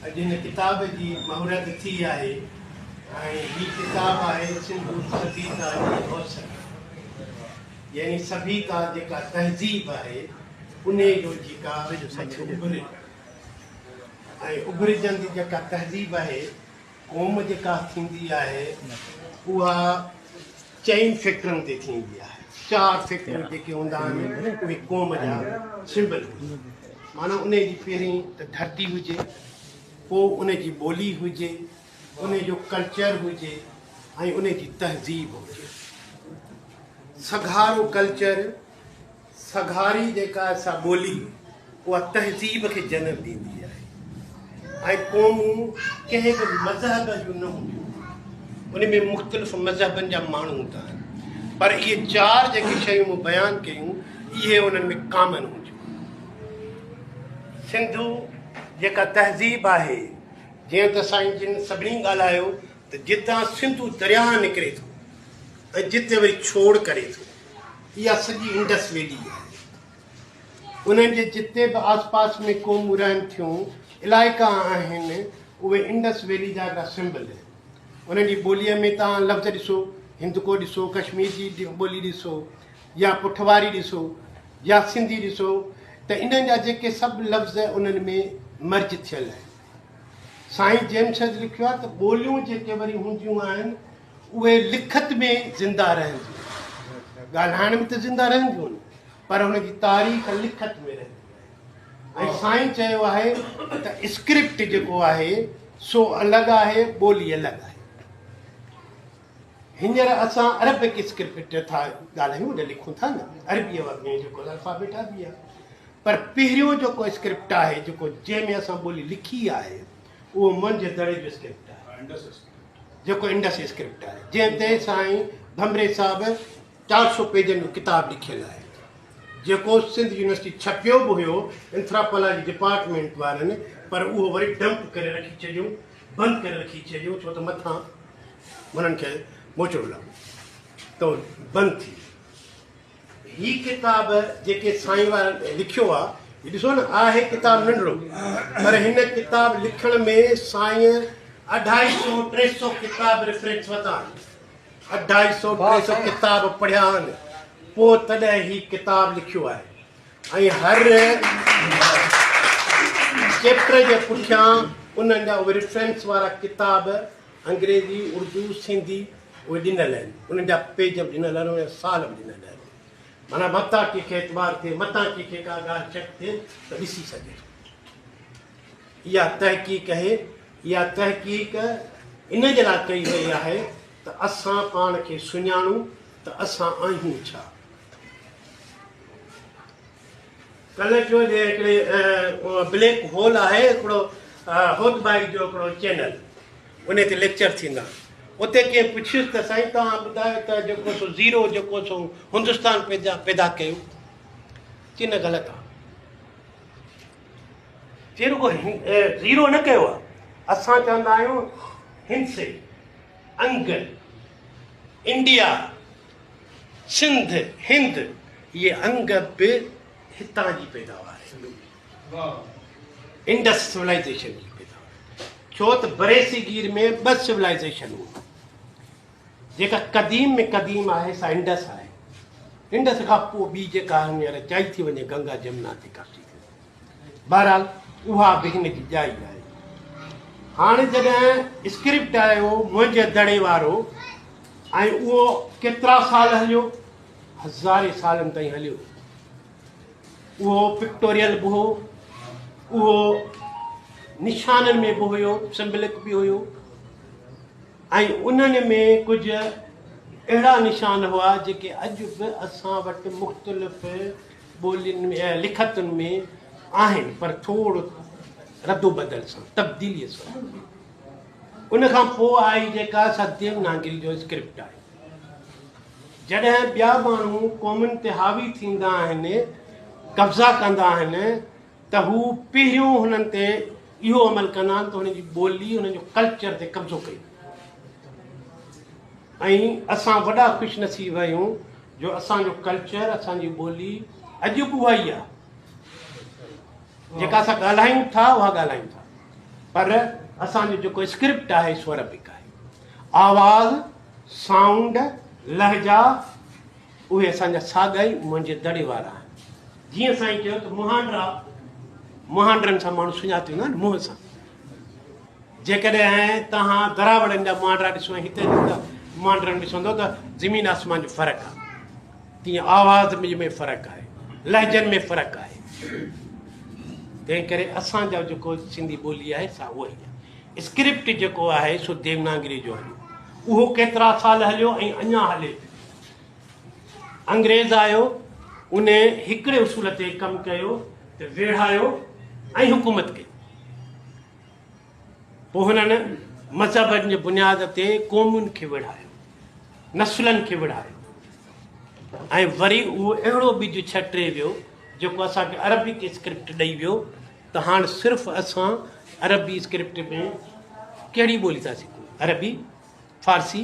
اڄ هن ڪتاب جي مهورت ٿي آهي ۽ هي ڪتاب آهي سنڌو سڀيتا جي روشن يعني سڀيتا جيڪا تهذيب آهي انهي جو جيڪا مٿي اڀري ۽ اڀرجندي جيڪا تهذيب آهي قوم جيڪا ٿيندي آهي اها چئن فڪرن تي ٿيندي آهي چار فڪر جيڪي هوندا آهن اهي قوم جا سمبل هوندا آهن معنيٰ ان جي پهرين ته ڌرتي هجي پوء ان جي ٻولي هجي ان جو ڪلچر هجي ۽ ان جي تهذيب هجي سگهارو ڪلچر سگهاري جيڪا سا ٻولي اها تهذيب کي جنم ڏيندي آهي ۽ قومون ڪنهن به مذهب جون نه هونديون ان ۾ مختلف مذهبن جا ماڻهو هوندا آهن پر اهي چار جيڪي شيون مون بيان ڪيون اهي انهن ۾ ڪامن هونديون سنڌو جيڪا تهذيب آهي جيئن ته سائين جن سڀني ڳالهايو ته جتان سنڌو درياهه نڪري ٿو ۽ جتي وري ڇوڙ ڪري ٿو اها سڄي انڊس ويلي آهي. انهن جي جتي به آس پاس ۾ قومون رهن ٿيون، علائقا آهن، اهي انڊس ويلي جا هڪڙا سمبل آهن. انهن جي ٻوليء ۾ توهان لفظ ڏسو، هندڪو ڏسو، ڪشمير جي ٻولي ڏسو يا پٺواري ڏسو يا سنڌي ڏسو ته انهن جا جيڪي سڀ لفظ انهن ۾ مرج ٿيل آهن. سائين جيمس هيڊ لکيو آهي ته ٻوليون جيڪي وري هونديون آهن، اهي لکت ۾ زنده رهنديون آهن، ڳالهائڻ ۾ ته زنده رهنديون آهن پر ان جي تاريخ لکت ۾ رهندي آهي ۽ سائين چيو آهي ته اسڪرپٽ جيڪو آهي سو الڳ آهي ٻولي الڳ آهي. هينئر اسان عربڪ اسڪرپٽ ٿا ڳالهايون ته لکون ٿا نه عربيء واري جيڪو الفابيٽ عربي آهي پر پهريون جيڪو اسڪرپٽ آهي جيڪو جنهن ۾ اسان ٻولي لکي آهي اهو منجهه دڙي جو اسڪرپٽ آهي جيڪو انڊس اسڪرپٽ آهي، جنهن تي سائين ڀنڀري صاحب چار سؤ پيجن جو ڪتاب لکيل آهي، جيڪو سنڌ يونيورسٽي ڇپيو به هيو انٿراپالاجي ڊپارٽمينٽ وارن، پر اهو وري ڊمپ ڪري رکي ڇڏيون، بند ڪري رکي ڇڏيون، ڇو ته مٿان هنن کي موچڙو لڳو ته بند ٿي ويو. هي ڪتاب جيڪي سائين وارن لکيو آ هي ڏسو نه آ هي ڪتاب ننڍڙو پر هن ڪتاب لکڻ ۾ سائين اڍائي سو ٽي سو ڪتاب ريفرنس وتا آهن اڍائي سو ٽي سو ڪتاب پڙهيا آهن پو تڏهن هي ڪتاب لکيو آهي ۽ هر چيپٽر جي پٺيان انهن جا ريفرنس وارا ڪتاب انگريزي اردو سنڌي اهي ڏنل آهن، انهن جا پيج به ڏنل آهن، انهن جا سال به ڏنل آهن. معنيٰ متان ڪنهن کي اعتبار ٿئي، متان ڪنهن کي ڪا ڳالهه شڪ ٿئي ته ڏسي سگهي ٿو. اها تحقيق اهي، اها تحقيق ان جي لاء ڪئي وئي آهي ته اسان پاڻ کي سڃاڻون ته اسان آهيون ڇا؟ ڪلهه چيو جي هڪڙي بليڪ هول آهي هڪڙو هوت بائي جو هڪڙو چينل انهي تي ليڪچر ٿيندا اتي ڪنهن پڇيس ته سائين توهان ٻڌايو ته جيڪو سو زيرو جيڪو سو هندستان پيدا پيدا ڪيو چي نه غلط آهي چي رڳو زيرو نه ڪيو آهي اسان چوندا آهيون هندسي انگل انڊيا سنڌ، هند، اهي انگ به هتان جي پيداوار آهن. انڊس سولائيزيشن جي پيداوار ڇو ته بريصغير ۾ ٻه سولائيزيشن هئي جيڪا قديم ۾ قديم آهي سا انڊس آهي انڊس کان پوء ٻي جيڪا هينئر چئي ٿي وڃي گنگا جمنا تي ڪرسي ٿي بهرحال اها به هن جي ڄائي آهي. هاڻ جڏهن اسڪرپٽ آيو منهنجي دڙي وارو ۽ اهو ڪيترا سال هليو، هزارين سالن تائين هليو. اهو پڪٽوريل به هو، اهو نشانن ۾ به هيو، سمبلڪ به هيو ۽ انهن ۾ ڪجهه اهڙا نشان هئا جيڪي اڄ به اسان وٽ مختلف ٻولين ۽ لکتن ۾ آهن پر ٿور ردوبدل سان، تبديليء سان. ان کان پوء آئي جيڪا سا ديوناگري جو اسڪرپٽ آهي. جڏهن ٻيا ماڻهو قومن تي حاوي ٿيندا آهن، قبضا ڪندا آهن، ته هو پهريون هنن تي اهو عمل ڪندا ته هنن جي ٻولي هنن جو ڪلچر تي قبضو ڪري ۽ اسان وڏا خوش نصيب آهيون جو اسان جو ڪلچر اسان جي ٻولي اڄ به اها ئي آهي جيڪا اسان ڳالهايون ٿا اها ڳالهايون ٿا پر اسان جو جيڪو اسڪرپٽ آهي سو عربڪ آهي آواز سائونڊ لهجا اهي اسان جا ساڳا ئي منهنجي دڙي وارا آهن. جيئن سائين چيو ته مهانڊرا مهانڊرن سان ماڻهو سڃاتيندا آهن منهن سان. جيڪڏهن توهان دراوڙن جا مهانڊرا ڏسو ۽ هتي جي مهانڊرن ڏسندو ته زمين آسمان جو فرق آهي. تيئن آواز ۾ فرق آهي، لهجن ۾ فرق آهي. تنهن ڪري اسان جو جيڪو سنڌي ٻولي آهي سا اها ئي آهي. اسڪرپٽ جيڪو آهي سو ديوناگري جو هليو. اهو ڪيترا سال هليو ۽ اڃا هلي پيو. انگريز آيو، ان هڪڙي اصول تي ڪم ڪيو ته ويڙهايو ۽ حڪومت ڪئي. پوء هنن مذهبن جي بنياد تي قومن کي ويڙهايو، نسلن کي ويڙهايو ۽ وري اهو اهڙو ٻج ڇٽي ويو جيڪو اسان کي عربڪ اسڪرپٽ ڏئي ويو ته هاڻ صرف اسان عربي اسڪرپٽ ۾ ڪهڙي ٻولي ٿا سکون، عربي، فارسي،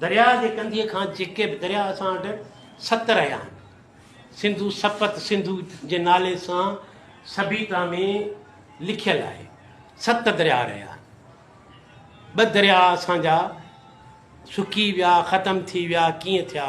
درياء جي ڪنڌيء کان جيڪي به درياء اسان وٽ ست رهيا آهن، سنڌو، سپت سنڌو جي نالي سان سڀيتا ۾ لکيل آهي. ست درياء رهيا. ٻه درياء اسان جا سڪي ويا، ختم ٿي ويا، ڪيئن ٿيا؟